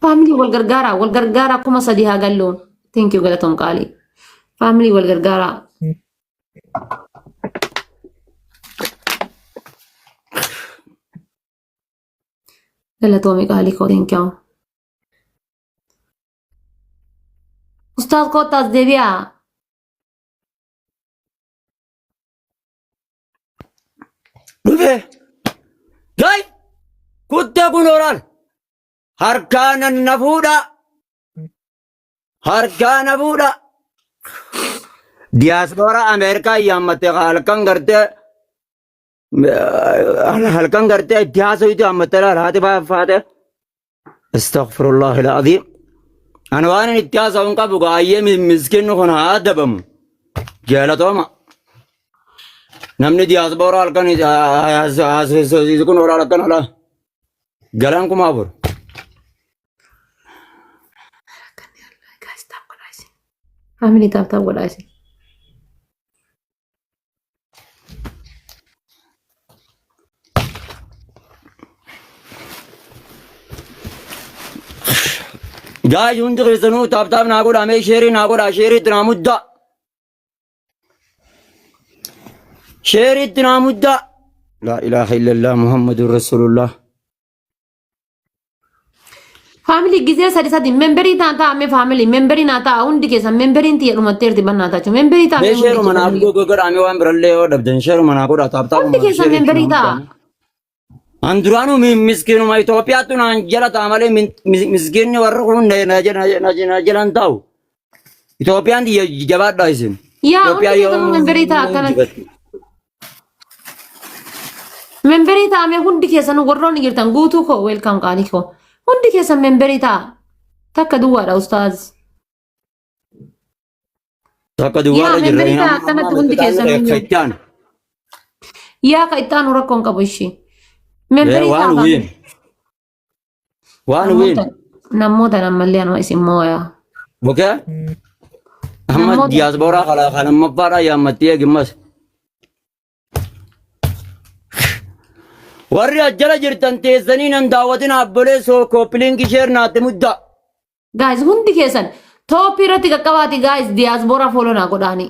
Faamilii wal gargaaraa wal gargaaraa kuma sadii haa galluun. Thank you galatoom qaalii. Faamilii wal gargaaraa. Galatoomi qaalii koo thank you. Ustaaz koottaas deebi'aa. Dhufe. Gai. Kutta kun oral. Harkaa nan na fuudha. Harkaa na fuudha. Diyaaspoora Ameerikaa yaammatte halkan gartee halkan gartee itti haasawutu hammatte laal haati faate Astaghfirullah al-azim. Ani waan inni itti haasa'u hin qabu gaayyee miskinni kun haa adabamu. Jaalatooma. Namni diyaasbooraa halkan haasofsiisu kun oolaa halkan alaa. Galaan kuma afur. Amini taaptaa godhaa isin. Gaa hundi keessanuu taaptaap naa godhaa mee sheerii naa godhaa sheerii itti naa muddaa. Sheerii itti naa muddaa. Laa ilaaha illallah Muhammadun Rasulullah. Faamilii gisee sadi sadi memberii taan ta'a mee faamilii memberii naa ta'a hundi keessan memberiin tiyya dhumatteerti bannaa ta'a memberii ta'a mee Mee hundi sheeruma keessan naaf faamilii. godhoo godhaamee waan birallee yoo dhabdan sheeruma naa godhaa taaptaapuma Hundi keessan sheerii memberii itti ta'a. naaf An duraanuu mi- miskiinuma Itoophiyaattu naan jala ta'a malee min- mi- miskiinni warri kun na- na jala- na- na- na jala hin taa'u. Itoophiyaan tiyya jabaadhaa isin. Yaa hundi Itoophiyaa keessan yoo memberii ta'a akkanatti. injifatti. Memberii ta'a mee hundi keessan warroonni jirtan guutuu koo weelkaam qaalii koo. Hundi keessan memberii ta'a. Takka duwwaadha ustaaz. Takka Yaa, duwwaadha jirra. memberii ta'a, akkanatti hundi keessan hin jiru. Itti aanu. Yaa ka itti aanu rakkoon qabu ishii. Memberii ta'a. Waan wiin. Waan Namoota weenu. namoota ammallee anuma isin mooyaa. Okay? Amma Namoota- diaspora kana kana mabbaadhaa yaammattee eegimmas. Warri ajjala jirtan teessanii nan daawwatin abbolee soo kooppilingi sheer naatti muddaa. Guys hundi keessan tooppii irratti qaqqabaati guys diaspora follow naa godhaanii.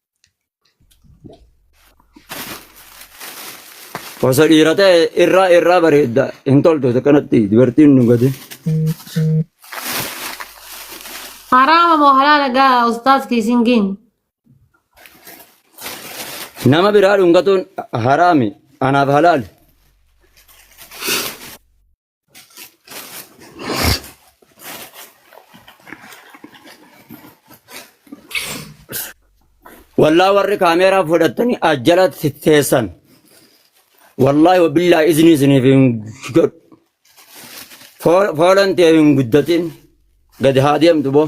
Osoo dhiira ta'e irraa irraa bareedda hin toltu isa kanatti dubartiin nu gadi. Haraama moo halaala gaa ustaaz kiisiin giin. Nama biraa dhungatuun haraami anaaf halaali. Wallaa warri kaameeraa fudhattanii ajjalatti teessan. Wallaahi wabillaa isinii isiniif hin godhu. Foolan tee hin guddatin. Gadi haa deemtu boo.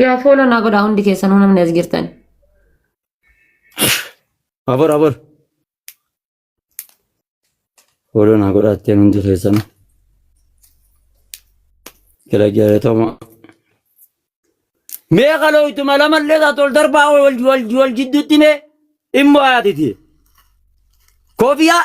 Yaa fooloo naa godhaa hundi keessanuu namni as jirtan. Abor abor. Fooloo naa godhaa ittiin hundi keessan. Gara jaalatama. Mee kaloo ittuma lamallee isaa tol darbaa wal wal wal jidduutti mee immoo haatiti. Koofiyaa.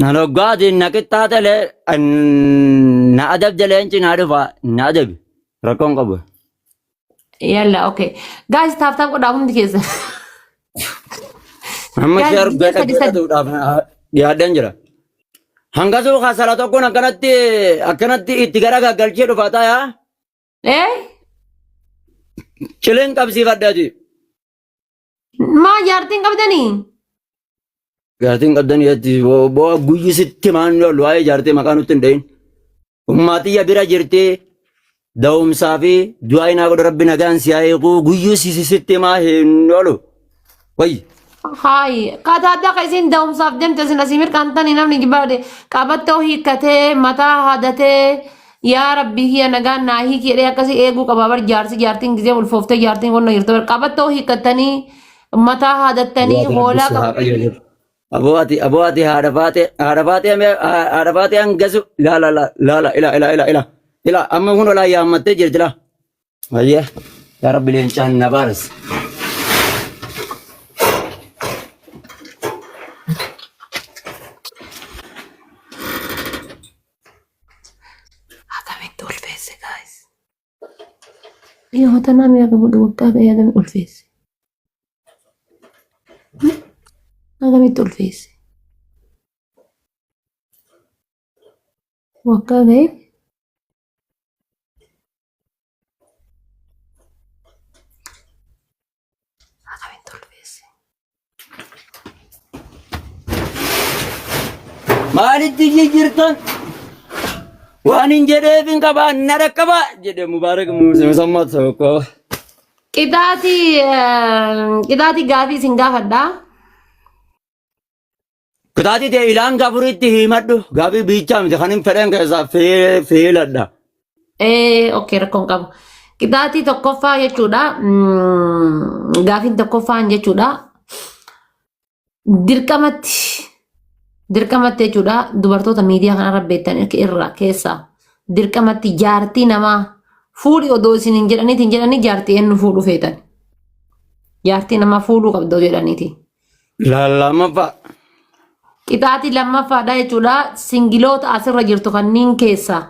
Na loggaatiin na qixxaatalee na adabde leenci na dhufa na adabi rakkoon qabu. Yalla okay. Guys taaf taaf godhaa hundi keessan. Amma Yaa, sheer biyya sadi sadi. godhatuudhaaf dhiyaadheen jira. Hangasuu kaasala tokkoon akkanatti akkanatti itti gara gaggalchee dhufa ta'a. Eh? Cileen qabsiifadhaati. Maa jaartiin qabdanii? Jaartiin qabdan jetti bo'oo guyyi sitti maan lolu waa'ee jaartii maqaa nutti hin dhahin. Ummaatiyya bira jirti da'umsaa fi du'aa inaa godha rabbi nagaan si haa eeguu guyyi si sitti maa hin lolu. Wayyi. Haayi, kataaddaa ka isiin da'umsaaf deemte isin asii mirqaantanii namni jibaade qabattoo hiikkatee mataa hadatee yaa rabbii kiyya nagaan naa hiiki jedhee akkasii eeguu qaba bar jaarsi jaartiin gizee ulfooftee jaartiin qonna jirtu bar qabattoo hiikkattanii mataa hadattanii Yaada rabbi hoolaa si haa qabattanii qajeelchu. Aboo ati aboo ati haadha faatee haadha faatee mee haadha faatee hangasu laala laala ila ila ila ila ila amma kun olaa yaammattee jirti laa Mayyee yaa rabbi leencaan na baaras. Akkamitti ulfeesse gaayis? Yoo tanaa mi'a qabu dhugaa ta'e akkamitti ulfeesse? Akkamitti ulfeesse? Waggaa ga'e maalitti jijjiirtan waan hin jedheef hin qabaa na dhaqqabaa jedhe mubaarak musammaa tokko. Qixaati qixaati gaafii isin gaafadha. Kitaati tee ilaan gafuritti himadhu gaafii biichaa miti kan hin fedhen keessaa fee- feeladha. Ee, okay, rakkoon qabu. Qixaatii tokkoffaa jechuudha. mm, Gaafiin tokkoffaan jechuudha. Dirqamatti, dirqamatti jechuudha. Dubartoota miidiyaa kanarra beektan irraa keessaa dirqamatti jaartii namaa fuudhi odoo isin hin jedhaniitiin jedhanii jaartii eenyu fuudhu feetan. Jaartii namaa fuudhuu qabda odoo jedhaniitiin. Lallamaffaa. Qixaaxii lammaffaadha jechuudha. Singiloota asirra jirtu kanneen keessaa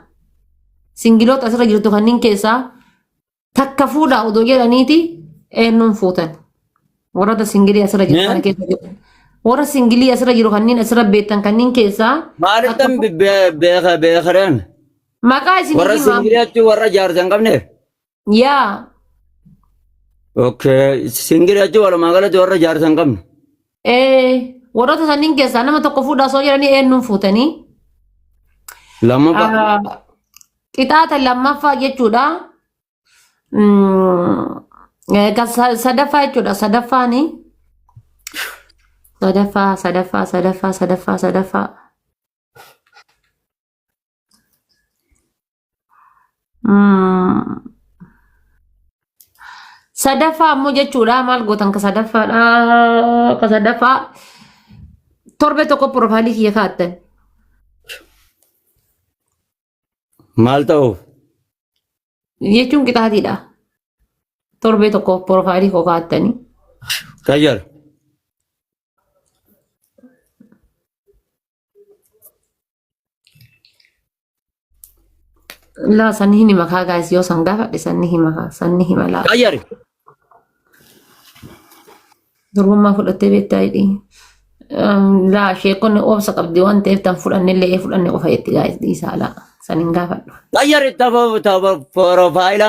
singiloota asirra jirtu kanneen keessaa takka fuudha odoo jedhaniiti eenyuun fuutan. Warroota singilii asirra jiru kana keessa jiru. Warra singilii asirra jiru kanneen asirra beektan kanneen keessaa Maalittan beekareen maqaa isin warra himaa. singiliyaatti warra jaarsa hin qabne Yaa. Okay. Singil jechuun walumaa galatti warra jaarsa hin qabne. Ee, warroota sanniin keessaa nama tokko fuudhaa osoo jedhanii eenyuun fuutanii? Lammaffaa. Ah, Qixaata lammaffaa jechuudha. Mm, eh, kan sa- Sadaffaa jechuudha. Sadaffaani. Sadaffaa, sadaffaa, sadaffaa, sadaffaa, sadaffaa. Sadaffaa ammoo jechuudha maal gootan ka sadaffaadha ka sadaffaa torbe tokko piroofaayilii kiyya kaa'attan. Maal ta'uuf? jechuun qixaatiidha. Torbee tokko piroofaayilii koo kaa'attanii. Qayyar. Laa sanni hin hima kaa gaayis yoo san gaafadhe sanni hima kaa sanni hima laa. Qayyari. Durbummaa fudhattee beektaa hidhii. Laa sheekonni obsa qabdi waan ta'eef tan fudhanne illee ee fudhanne qofa jetti gaayis dhiisaa laa san hin gaafadhu. Qayyari taba taba porofaayila.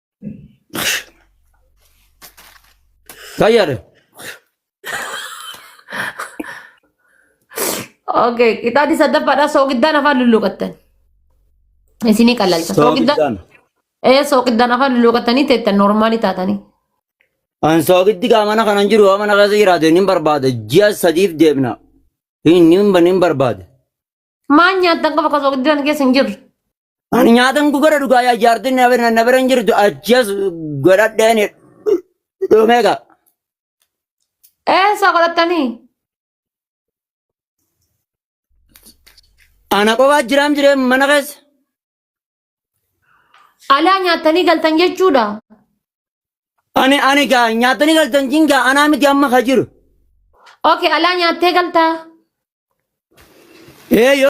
Fayyada. Okay, qixaati saddaffaadha sooqiddaan afaan lulluuqattan. Isinii qalalcha. Sooqiddaan. Sooqiddaan. Ee sooqiddaan afaan lulluuqattanii teettan noormaalii taatanii. An sooqitti gaa mana kanan jiru waan mana keessa jiraate nin barbaada. Ji'a sadiif deemna. Hin hin hin barbaada. Maan nyaattan qofa qofa guddaan keessa hin jirre. Ani nyaatan gugara dhugaa yaa jaartiin na bira na bira hin jirtu achas godhadheen dhumee qaba. Eessa godhattanii? Ana qofaa jiraam jiree mana keessa. Alaa nyaattanii galtan jechuudha. Ani ani gaa nyaatanii galtan jin gaa anaa miti amma ka jiru. Okay, alaa nyaattee galtaa. Ee yoo